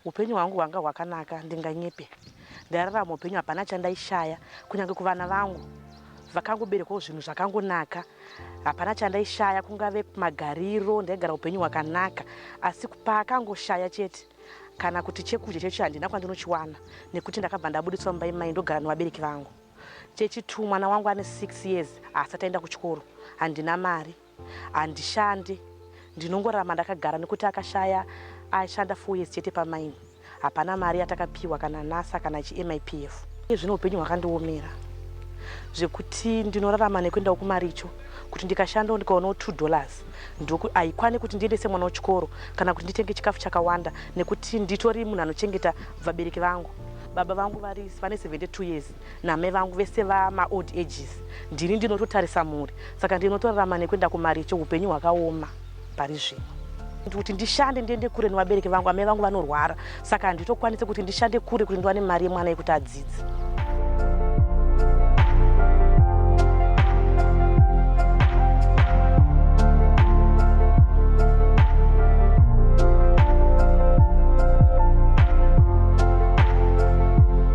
Upenyu hwangu hwanga hwakanaka ndinganyepe. Ndairarama upenyu hapana chandaishaya kunyange kuvana vangu vakangoberekwawo zvinhu zvakangonaka. Hapana chandaishaya kungave magariro ndaigara upenyu hwakanaka asi paakangoshaya chete kana kuti chekudya chechi handina kwandinochiwana nekuti ndakabva ndabuditswa mumba imai ndogara nevabereki vangu. Chechi two mwana wangu ane six years haasati aenda kuchikoro handina mari. Handishande ndinongorarama ndakagara nekuti akashaya ashanda four years chete pamine hapana mari yatakapiwa kana nasa kana chiMIPF. Iye zvino upenyu hwakandiomera zvekuti ndinorarama nekuendawo kumaricho kuti ndikashandawo ndikaonawo two dollars ndoku haikwane kuti ndiendese mwana wechikoro kana kuti nditenge chikafu chakawanda nekuti nditori munhu anochengeta vabereki vangu. Baba vangu vari vane 72 years Namai vangu vese vama old ages ndini ndinototarisa mhuri saka ndinotorarama nekuenda kumaricho hupenyu hwakaoma pari zvino kuti ndishande ndiende kure nevabereki vangu amai vangu vanorwara saka handitokwanise kuti ndishande kure kuti ndiwane mari yemwana yekuti adzidze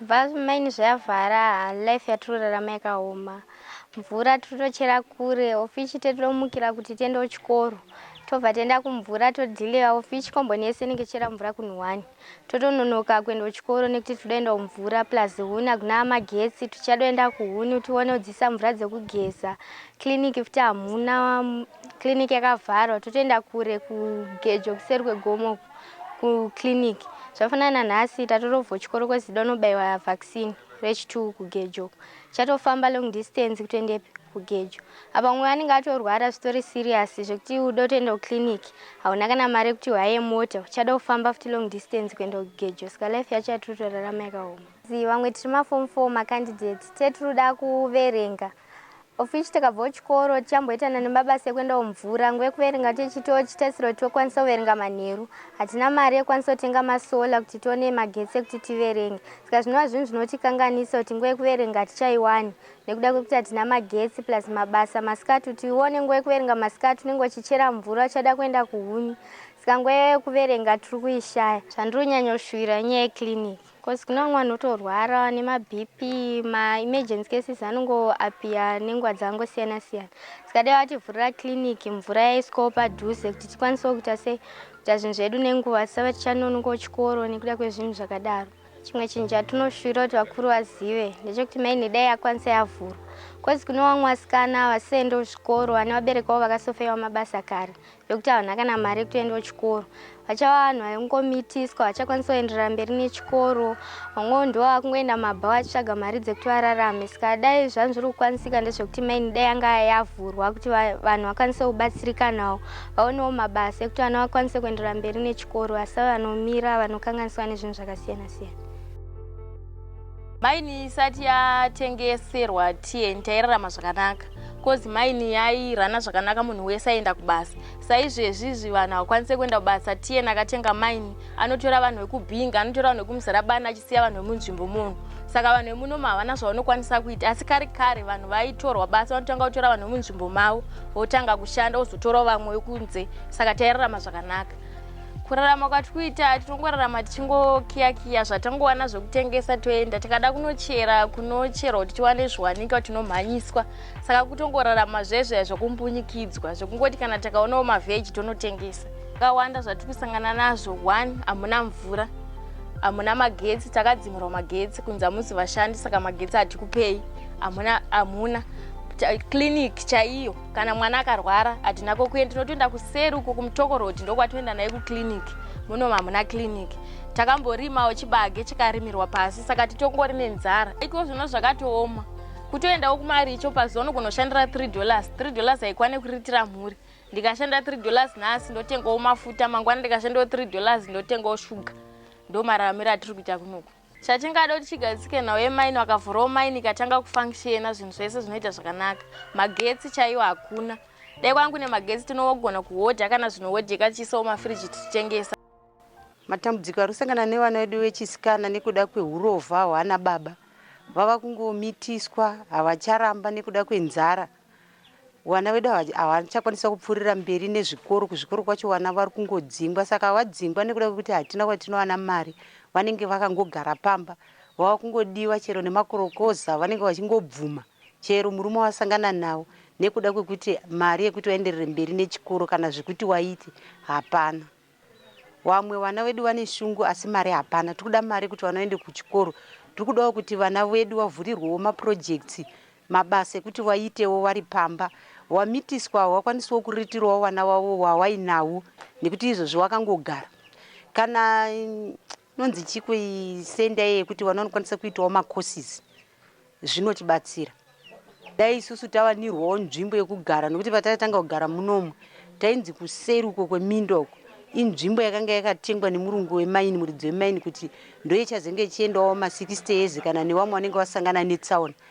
Bva mainn zvayavhara haa life yatirurarama yakaoma mvura tiritochera kure ofici tetitomukira kuti tiende kuchikoro tobva tienda kumvura todhileva ofici komboni yese inenge ichera mvura kunhu one totononoka kuenda kuchikoro nekuti titodaenda kumvura plus huni hakuna magetsi tichadoenda kuhuni tione kudzisa mvura dzekugeza clinic futi hamuna clinic yakavharwa totoenda kure kugejo kuseri kwegomo uku kuclinic zvafana nanhasi tatorovho chikoro kwezida unobaiwa vaccine rechitwo kugejo chatofamba long distance kutoendepi kugejo apa umwe anenge atorwara zvitori serious zvekuti ude kutoenda kuclinic hauna kana mari yekuti uhaye mota uchada kufamba futi long distance kuenda kugejo saka life yacho yatiri kutorarama yakaoma vamwe tiri maform four macandidates tetiri kuda kuverenga Of which takabvawo chikoro tichamboitana nemabasa ekuendawo mvura nguva yekuverenga tichitiwo chitarisiro kuti tokwanisa kuverenga manheru. Hatina mari yekukwanisa kutenga masolar kuti tione magetsi ekuti tiverenge saka zvinova zvinhu zvinotikanganisa kuti nguva yekuverenga hatichaiwani nekuda kwekuti hatina magetsi plus mabasa masikati kuti uone nguva yekuverenga masikati unenge uchichera mvura uchada kuenda kuhuni saka nguva yekuverenga tiri kuishaya. Zvandiri kunyanyoshuwira inyaya yeclinic. Cause kune vamwe vanhu votorwara nemaBP, maemergency cases anongo appear nenguva dzakangosiyana siyana. Saka dai vativhurira clinic mvura yaiswawo padhuze kuti tikwanisewo kuita sei kuita zvinhu zvedu nenguva tisave tichanonokawo chikoro nekuda kwezvinhu zvakadaro. Chimwe chinhu chatinoshuvira kuti vakuru vazive ndechekuti main dai yakwanisa yavhurwa cause kune vamwe vasikana havasisaendewo zvikoro vane vabereki vavo vakasofeiwa mabasa kare yekuti havana kana mari yekutoendawo chikoro vachava vanhu vaingomitiswa vachakwanisa kuenderera mberi nechikoro vamwewo ndivo vakungoenda mabhawa achitsvaga mari dzekuti vararame saka dai zvanhu zviri kukwanisika ndezvekuti maini dai yanga yavhurwa kuti vanhu vakwanise kubatsirikanawo vaonewo mabasa ekuti vana vakwanise kuenderera mberi nechikoro asi vanomira vanokanganiswa nezvinhu zvakasiyana siyana Maini isati yatengeserwa TN tairarama zvakanaka kozi maini yairana zvakanaka munhu wese aenda kubasa saizvezvizvi vanhu havakwanise kuenda kubasa TN akatenga maini anotora vanhu vekubhinga anotora vanhu vekumuzarabani achisiya vanhu vemunzvimbo munhu saka vanhu vemunoma havana zvavanokwanisa kuita asi kare kare vanhu vaitorwa basa vanotanga kutora vanhu vemunzvimbo mavo votanga kushanda vozotorawo vamwe vekunze saka tairarama zvakanaka kurarama kwati kuita tinongorarama tichingokiya kiya zvatangowana zvekutengesa toenda tikada kunochera kunocherwa kuti tiwane zviwanikwa tinomhanyiswa saka kutongorarama zvezveya zvekumbunyikidzwa zvekungoti kana takaonawo mavheji tonotengesa kawanda zvatiri kusangana nazvo one hamuna mvura hamuna magetsi takadzimirwa magetsi kunzi hamuzi vashandi saka magetsi hatikupei hamuna clinic chaiyo kana mwana akarwara hatina kokuenda tinotoenda kuseri uko kumutoko road ndokwatoenda naye kuclinic muno hamuna clinic takamborimawo chibage chikarimirwa pasi saka titongori nenzara iko zvino zvakatooma kutoendawo kumaricho pazuva nogonoshandira three dollars three dollars haikwane kuriritira mhuri ndikashanda three dollars nhasi ndotengawo mafuta mangwana ndikashandawo three dollars ndotengawo shuga ndomararamiro atiri kuita kunoku chatingada kuti chigadzike nhau yemaini vakavhurawo maini ikatanga kufunctiona zvinhu zvese zvinoita zvakanaka magetsi chaiwo hakuna dai kwangu nemagetsi tinogona kuhodha kana zvino hodha ikatiisawo mafiriji tichitengesa matambudziko ari kusangana nevana vedu vechisikana nekuda kwehurovha hwana baba vava kungomitiswa havacharamba nekuda kwenzara vana vedu hava- havachakwanisa kupfuurira mberi nezvikoro kuzvikoro kwacho vana vari kungodzingwa saka vadzingwa nekuda kwekuti hatina kwatinowana mari vanenge vakangogara pamba vava kungodiwa chero nemakorokoza vanenge vachingobvuma chero murume wasangana nawo nekuda kwekuti mari yekuti vaenderere mberi nechikoro kana zvekuti waite hapana Wamwe wana wedu wane shungu asi mari hapana. Tikuda mari kuti wana waende kuchikoro. Tikudawo kuti vana wedu wavhurirwewo ma projects, mabasa ekuti waitewo wari pamba. Wamitiswa hawakwanisiwo kuritirawo wana wavo wawainawo nekuti izvozvi wakangogara. Kana. Nonzi chiko iyi senda yekuti vana vanokwanisa kuitawo macourses zvinotibatsira. Dai isusu tawanirwawo nzvimbo yekugara nokuti patatanga kugara munomu tainzi kuseri uko kweminda uko inzvimbo yakanga yakatengwa nemurungu wemaini muridzi wemaini kuti ndoichazenge ichiendawo ma 60 years kana nevamwe vanenge vasangana netsaona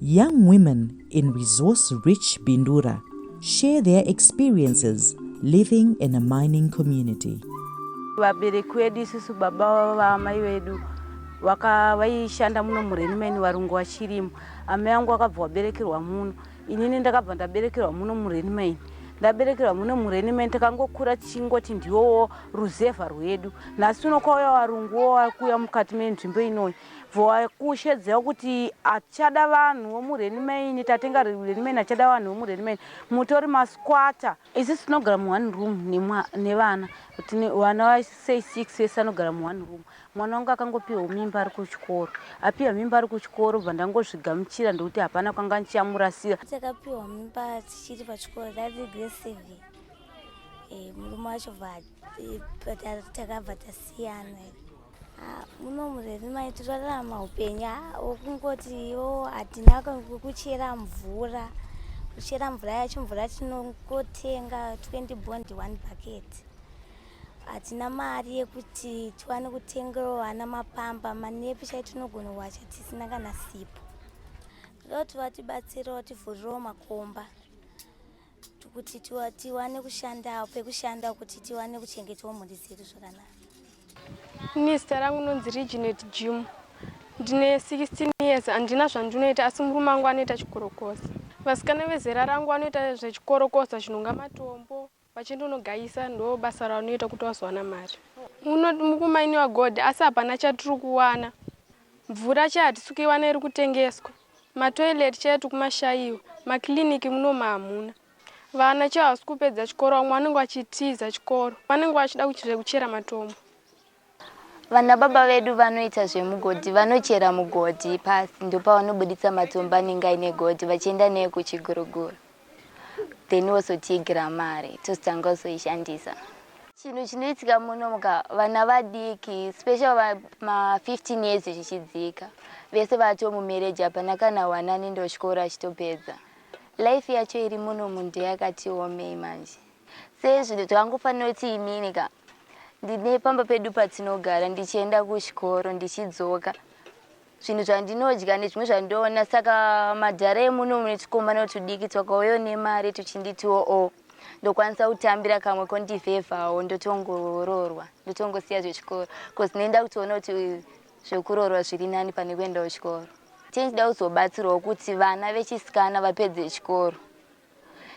Young women in resource rich Bindura share their experiences living in a mining community. Vabereki wedu isusu baba vaamai vedu vaishanda muno murenimeni varungu vachirimo amai angu akabva waberekerwa muno inini ndakabva ndaberekerwa muno murenimeni ndaberekerwa muno murenimeni takangokura tichingoti ndiwowo ruzevha rwedu nhasi uno kwauya varungu wo wakuuya mukati menzvimbo inoyi Voakushe dzeo kuti achada vanhu vomuRheni Main tatenga Rheni Main achada vanhu vomuRheni Main mutori masquatter. Isu tinogara mu one room nevana tine vana va say six vese vanogara mu one room mwana wangu akangopihwa mimba ari kuchikoro apihwa mimba ari kuchikoro bva ndangozvigamuchira ndokuti hapana kwanga ndichamurasira. Dzakapihwa mimba dzichiri pachikoro dzaive grade seven eh, murume wacho bva eh, takabva tasiyana. muno murezi mai titorarama upenyu wokungoti iwo hatina kuchera mvura kuchera mvura yacho mvura tinongotenga 20 bond one bucket hatina mari yekuti tiwane kutengerawo vana mapamba manepi chai tinogona kuwacha tisina kana sipo ndoti vatibatsirawo tivhurirawo makomba kuti tiwane kushanda pekushanda kuti tiwane kuchengetawo mhuri dzedu zvakanaka ini zita rangu nonzi reginet jim ndine 16 years handina zvandinoita asi murume angu anoita chikorokoza vasikana vezera rangu vanoita zvechikorokoza chinonga matombo vachindonogayisa ndo basa ranoita kuti vazowana mari mukumaini wagod asi hapana chatiri kuwana Mvura chaiyo hatisi kuiwana iri kutengeswa, matoilet chaiyo tiri kumashaiwa, maclinic munomu hamuna. Vana chaivo havasi kupedza chikoro, vamwe vanenge vachitiza chikoro, vanenge vachida zvekuchera matombo. Vanababa vedu vanoita zvemugodhi, vanochera mugodhi pasi ndopavanobuditsa matombo anenge aine godhi vachienda neekuchiguruguru. then wozotiigira mari tozotanga kuzoishandisa chinhu chinoitika muno muka vana vadiki special va ma 15 years zvichidzika vese vato mumereji hapana kana one anoenda chikoro achitopedza life yacho iri muno munhu ndeyakati omei manje sezvino zvakangofanira kuti inini ka ndine pamba pedu patinogara ndichienda kuchikoro ndichidzoka zvinhu zvandinodya nezvimwe zvandoona saka madhara emuno mune tukomana tudiki twakauyo nemari tuchinditiwo o oh, ndokwanisa kutambira kamwe kondivhevhawo ndotongoroorwa ndotongosiya zvechikoro bcause nenda kutoona kuti zvekuroorwa zviri nani pane kuendawo chikoro tendida kuzobatsirawo kuti vana vechisikana vapedze chikoro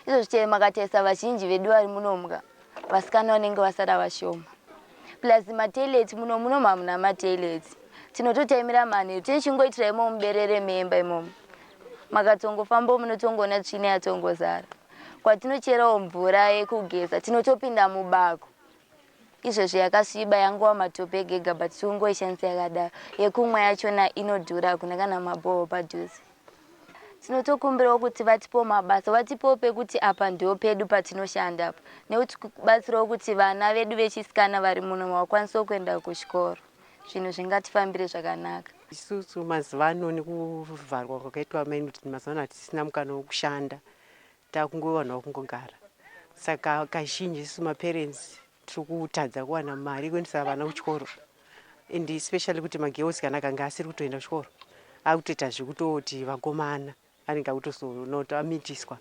Izvozvi chero makatarisa vazhinji vedu vari muno mga vasikana vanenge vasara vashoma. Plus ma toilet muno munomu hamuna ma toilet. Tinototaimira manheru tine chingoitira imomo muberere memba imomo. Makatongofambawo munotongoona tsvina yatongozara. Kwatinocherawo mvura yekugeza tinotopinda mubako. Izvezvi yakasviba yangova matope ega ega but tikungoishandisa yakadaro. Yekumwa yachona inodhura hakuna kana mabhoo padhuze. Tinotokumbirawo kuti vatipewo mabasa vatipewo pekuti apa ndoo pedu patinoshanda apa nekuti kubatsirawo kuti vana vedu vechisikana vari muno vakwanisewo kuenda kuchikoro zvinhu zvingatifambire zvakanaka. Isusu mazuvano nekuvharwa kwakaitwa mainoti mazuvano hatisina mukana wekushanda Takungo vanhu vakungogara saka kazhinji isu maparents tiri kutadza kuwana mari yekuendesa vana kuchikoro and especially kuti magirls kana kanga asiri kutoenda kuchikoro akutoita zvekutoti vakomana anenge akutozoona kuti amitiswa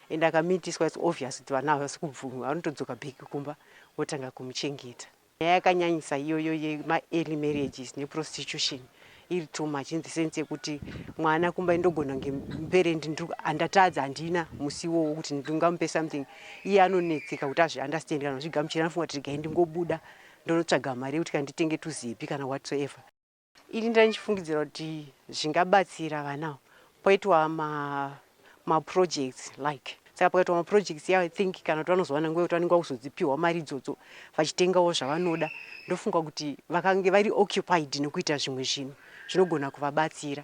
and akamitiswa its obvious kuti vana havasi kubvuma vanotodzoka bheki kumba votanga kumuchengeta Nyaya yakanyanyisa iyoyo yema early marriages ne prostitution iri too much in the sense yekuti mwana kumba ndogona kunge parent andatadza handina musiwo wekuti ndingamupe something iye anonetseka kuti azvi understand kana kuzvigamuchira anofunga kuti regai ndingobuda ndonotsvaga mari yekuti kana nditenge tuzipi kana whatsoever Ini ndandichifungidzira kuti zvingabatsira vana ava poitwa ma, ma projects like saka pakaitwa ma projects yavo i think kana kuti vanozowana nguva yekuti vanenge vakuzodzipihwa mari idzodzo vachitengawo zvavanoda ndofunga kuti vakange vari occupied nekuita zvimwe zvinhu zvinogona kuvabatsira.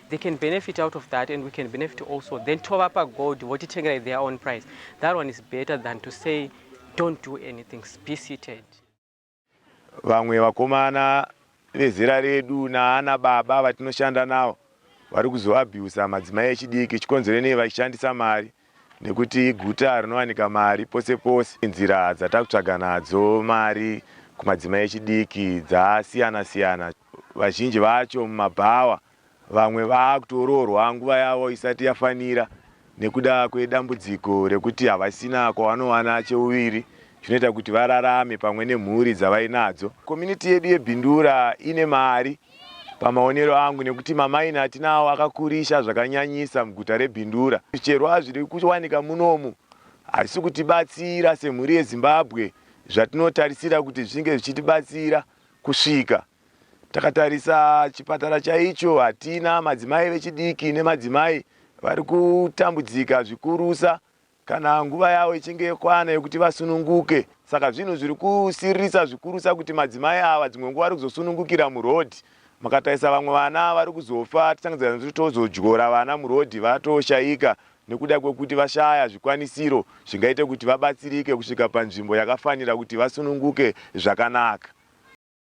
They can benefit out of that and we can benefit also. Then tovapa gold votitengera at their own price. That one is better than to say don't do anything. Be seated. Vamwe vakomana vezera redu naana baba vatinoshanda navo vari kuzoabhusa madzimai echidiki chikonzero nei vachishandisa mari nekuti iguta rinowanika mari pose pose. Nzira dzatakutsvaga nadzo mari kumadzimai echidiki dzasiyana siyana, vazhinji vacho mumabhawa, vamwe vakutoroorwa nguva yavo isati yafanira nekuda kwedambudziko rekuti havasina kwavanowana cheuviri chinoita kuti vararame pamwe nemhuri dzavainadzo. Community yedu yeBindura ine mari. Pamaonero angu nekuti mamaini atinawo akakurisa zvakanyanyisa muguta reBindura, zvicherwa zviri kuwanika munomu hazvisi kutibatsira semhuri yeZimbabwe zvatinotarisira kuti zvichinge zvichitibatsira kusvika takatarisa chipatara chaicho hatina madzimai vechidiki nemadzimai vari kutambudzika zvikurusa kana nguva yavo ichinge yokwana yokuti vasununguke. Saka zvinhu zviri kusiririsa zvikurusa kuti madzimai ava dzimwe nguva vari kuzosunungukira muroad. Mukatarisa vamwe vana vari kuzofa tichitangadzira nekuti tozodyora vana muroad vatoshaika nekuda kwekuti vashaya zvikwanisiro zvingaite kuti vabatsirike kusvika panzvimbo yakafanira kuti vasununguke zvakanaka.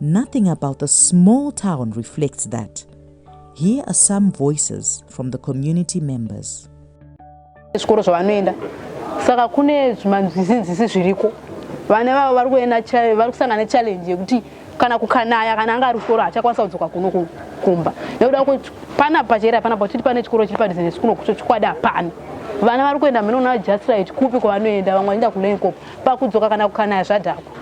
Nothing about the small town reflects that. Here are some voices from the community members. Zvikoro zvavanoenda saka kune zvimanzizinzisi zviriko vana vavo vari kuenda vari kusangana nechallenge yekuti kana kukanaya kana anga ari kuchikoro hachakwanisa kudzoka kuno kumba nekuda kuti pana pachera pana pachiti pane chikoro chiri padhizinesi kuno kucho chikwadi hapana vana vari kuenda mheno na just right kupi kwavanoenda vamwe vanoenda kulenkop pakudzoka kana kukanaya zvadhakwa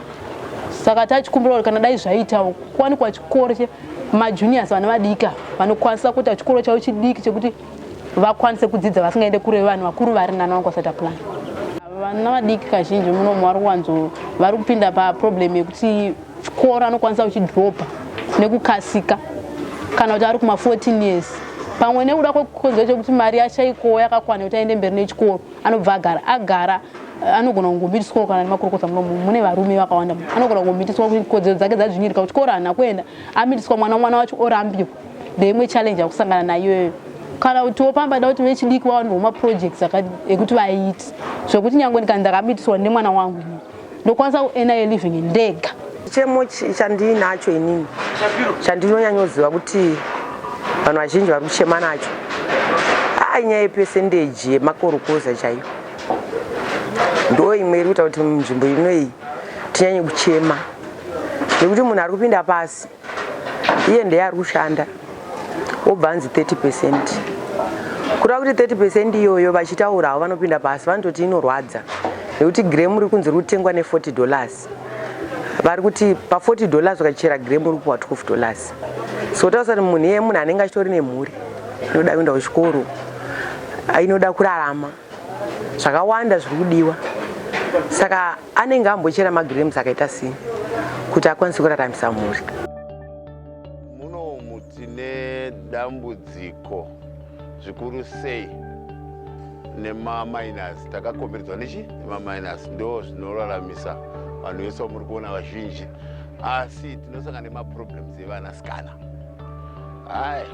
saka tachikumbira kuti kana dai zvaitawo kwanikwa chikoro chemajuniors vana vadika vanokwanisa kuita chikoro chavo chidiki chekuti vakwanise kudzidza vasingaende kure vanhu vakuru vari nana vanga vasati aplan vana vadiki kazhinji munomu vari kuwanzo vari kupinda paproblem yekuti chikoro anokwanisa kuchidropa nekukasika kana kuti ari kuma 14 years pamwe nekuda kwekonzero chekuti mari yachaikowo yakakwana kuti aende mberi nechikoro anobva agara agara anogona kungomitiswawo kana nemakurukota muno mune varume vakawanda anogona kungomitiswa kuti kodzero dzake dzadzvinyirika kuchikoro hana kuenda amitiswa mwana mwana wacho orambirwa ndeimwe challenge akusangana nayoyo kana kutiwo pamba da kuti vechidiki vawanirwa maprojects ekuti vaiti zvekuti nyange ndikani ndakamitiswa nemwana wangu ini ndokwanisa kuena ye living ndega chichemo chandiinacho inini chandinonyanyoziva kuti vanhu vazhinji vari kuchema nacho aa nyaya yepesendeji yemakorokoza chaiyo ndo imwe iri kuita kuti munzvimbo ino iyi tinyanye kuchema nekuti munhu ari kupinda pasi iye ndeye ari kushanda wobva anzi 30 percent kureva kuti 30 percent iyoyo vachitaurawo vanopinda pasi vanototi inorwadza nekuti gremu riri kunzi riri kutengwa ne40 dollars vari kuti pa40 dollars ukachera gremu uri kupuwa 12 dollars so tausa kuti munhu iye munhu anenge achitori nemhuri inoda kuenda kuchikoro inoda kurarama zvakawanda zviri kudiwa saka anenge ambochera magrems akaita sei kuti akwanise kuraramisa mhuri munomu tine dambudziko zvikuru sei nemaminas takakomberedzwa nechi nemaminas ndo zvinoraramisa vanhu vese vamuri kuona vazhinji asi tinosanga nemaproblems evana sikana hai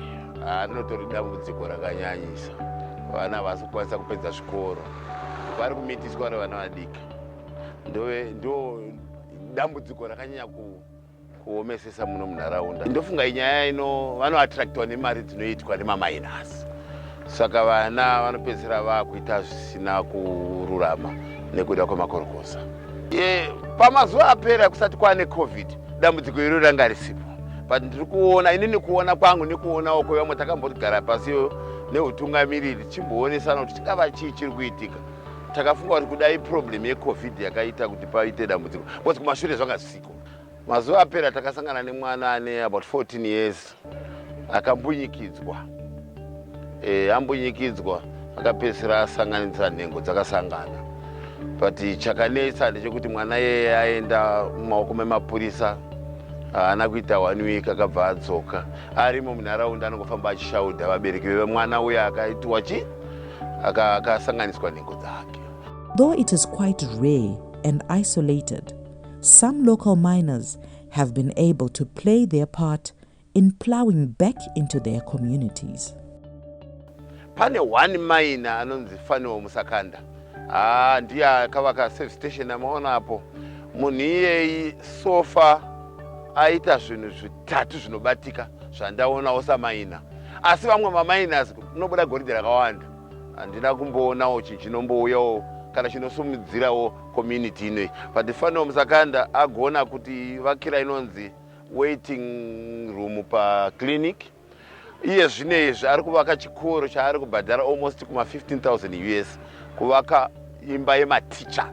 anotori dambudziko rakanyanyisa vana vasi kukwanisa kupedza zvikoro vari kumitiswa nevana vadiki ndove ndo dambudziko rakanyanya ku kuomesesa muno munharaunda ndofunga inyaya ino vanoattractwa nemari dzinoitwa nemamainas saka vana vanopedzisira vakuita zvisina kururama nekuda kwemakorokosa e, pamazuva apera kusati kwaane covid dambudziko iro ranga risipo but ndiri kuona inini kuona kwangu nekuonawo kwevamwe takambogara pasi neutungamiriri tichimboonesana kuti chingava chii chiri kuitika takafunga kuti kudai problem yecovid yakaita kuti paite dambudziko because kumashure zvanga zvisiko mazuva apera takasangana nemwana ane about 14 years akambunyikidzwa e, ambunyikidzwa akapedzisira asanganisa nhengo dzakasangana but chakanetsa ndechekuti mwana yeye aenda mumaoko memapurisa haana kuita one week akabva adzoka arimo munharaunda anongofamba achishaudha vabereki vemwana uya akaitiwa chii akasanganiswa aka nhengo dzake Though it is quite rare and isolated, some local miners have been able to play their part in plowing back into their communities. pane one mine anonzi faniwo musakanda haa ah, ndiye akavaka safe station amaona apo munhu iyeyi sofa aita zvinhu zvitatu zvinobatika zvandaonawo samaina asi vamwe mamainasi kunobuda goridhe rakawanda handina kumboonawo chinhu chinombouyawo kana chinosumudzirawo community inoi but fanirwa musakanda agona kuti vakira inonzi waiting room paclinic iye zvino izvi ari kuvaka chikoro chaari kubhadhara almost kuma 15000 us kuvaka imba yematicha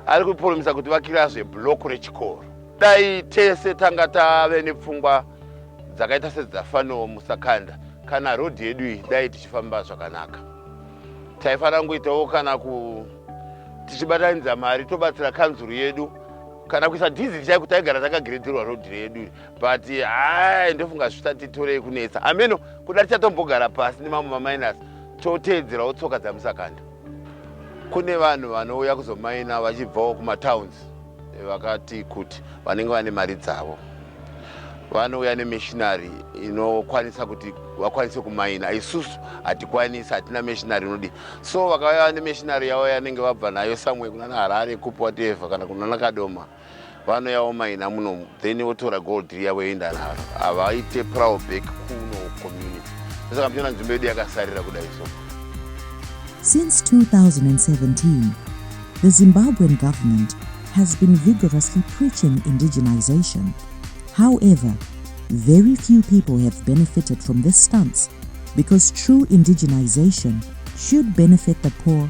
ari kupromisa kuti vakirazve block rechikoro Dai tese tanga tave nepfungwa dzakaita sedzafanowo musakanda kana road yedu iyi dai tichifamba zvakanaka taifanira kungoitawo kana ku tichibatanidza mari tobatsira kanzuru yedu kana kuisa dizili chaiko taigara takagiredzerwa road redu but hai ndofunga zvisati torei kunetsa hameno kuda tichatombogara pasi nemamwe maminus toteedzerawo tsoka dzamusakanda kune vanhu vanouya kuzomaina vachibvawo kumatowns Vakati kuti vanenge vane mari dzavo vanouya nemishinari inokwanisa kuti vakwanise kumaina isusu hatikwanisi hatina mishinari inodi so vakauya nemishinari yavo yanenge vabva nayo samwe kunana harare kupi watevha kana kunana kadoma vanoyawo maina munomu then wotora gold riya voenda naro havaite prowl back kuno community saka muchiona nzvimbo yedu yakasarira kudai so since 2017 the zimbabwean government has been vigorously preaching indigenization however very few people have benefited from this stance because true indigenization should benefit the poor